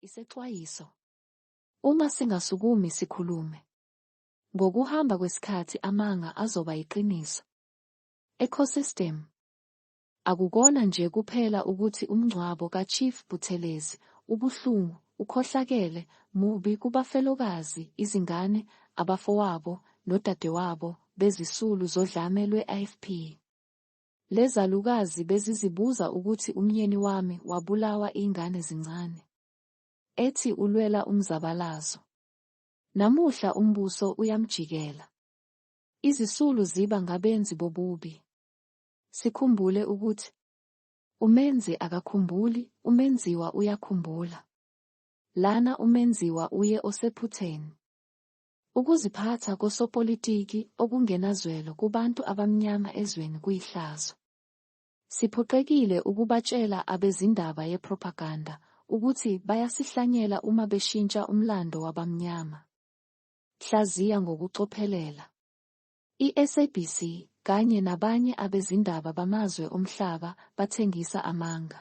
Isexwayiso, Uma singasukumi sikhulume, ngokuhamba kwesikhathi amanga azoba yiqiniso. Ecosystem, Akukona nje kuphela ukuthi umngcwabo kaChief Buthelezi ubuhlungu, ukhohlakele, mubi kubafelokazi, izingane, abafowabo, nodadewabo bezisulu zodlame lwe-IFP. Lezalukazi bezizibuza ukuthi umyeni wami wabulawa ingane zincane. Ethi ulwela umzabalazo. Namuhla umbuso uyamjikela. Izisulu ziba ngabenzi bobubi. Sikhumbule ukuthi umenzi akakhumbuli, umenziwa uyakhumbula. Lana umenziwa uye osephutheni. Ukuziphatha kosopolitiki okungenazwelo kubantu abamnyama ezweni kuyihlazo. Siphoqekile ukubatshela abezindaba yepropaganda ukuthi bayasihlanyela uma beshintsha umlando wabamnyama. Hlaziya ngokucophelela. I-SABC kanye nabanye abezindaba bamazwe omhlaba bathengisa amanga.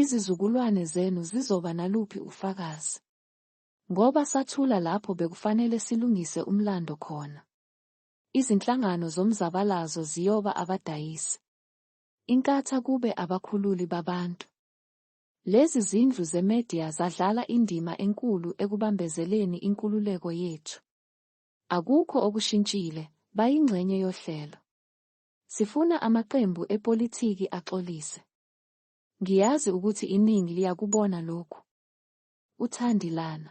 Izizukulwane zenu zizoba naluphi ufakazi? Ngoba sathula lapho bekufanele silungise umlando khona. Izinhlangano zomzabalazo ziyoba abadayisi. Inkatha kube abakhululi babantu. Lezi zindlu zemedia zadlala indima enkulu ekubambezeleni inkululeko yethu. Akukho okushintshile, bayingxenye yohlelo. Sifuna amaqembu epolitiki axolise. Ngiyazi ukuthi iningi liyakubona lokhu. UThandilana.